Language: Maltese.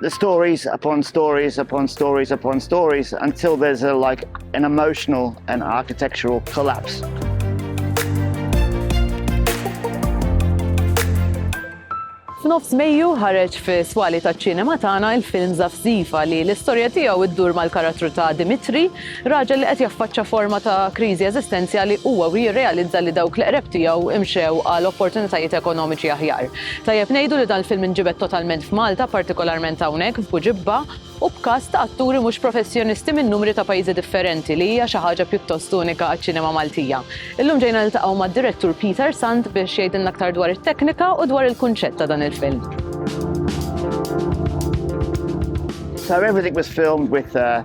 the stories upon stories upon stories upon stories until there's a, like an emotional and architectural collapse. F'nofs Mejju ħareġ fi swali taċ-ċinema tagħna il-film Zafzifa li l-istorja tiegħu ddur mal-karattru ta' Dimitri Raġel li qed jaffaċċa forma ta' kriżi eżistenzjali huwa u jirrealizza li dawk li qreb tiegħu imxew għal opportunitajiet ekonomiċi aħjar. Tajjeb ngħidu li dan il-film inġibed totalment f'Malta, partikolarment hawnhekk f'Buġibba, u b'cast ta' atturi mhux professjonisti minn numri ta' pajjiżi differenti li hija xi ħaġa pjuttost unika għaċ-ċinema Maltija. Illum ġejna niltaqgħu mad-direttur Peter Sant biex jgħidilna aktar dwar it-teknika u dwar il-kunċett ta' dan il-film. So everything was filmed with a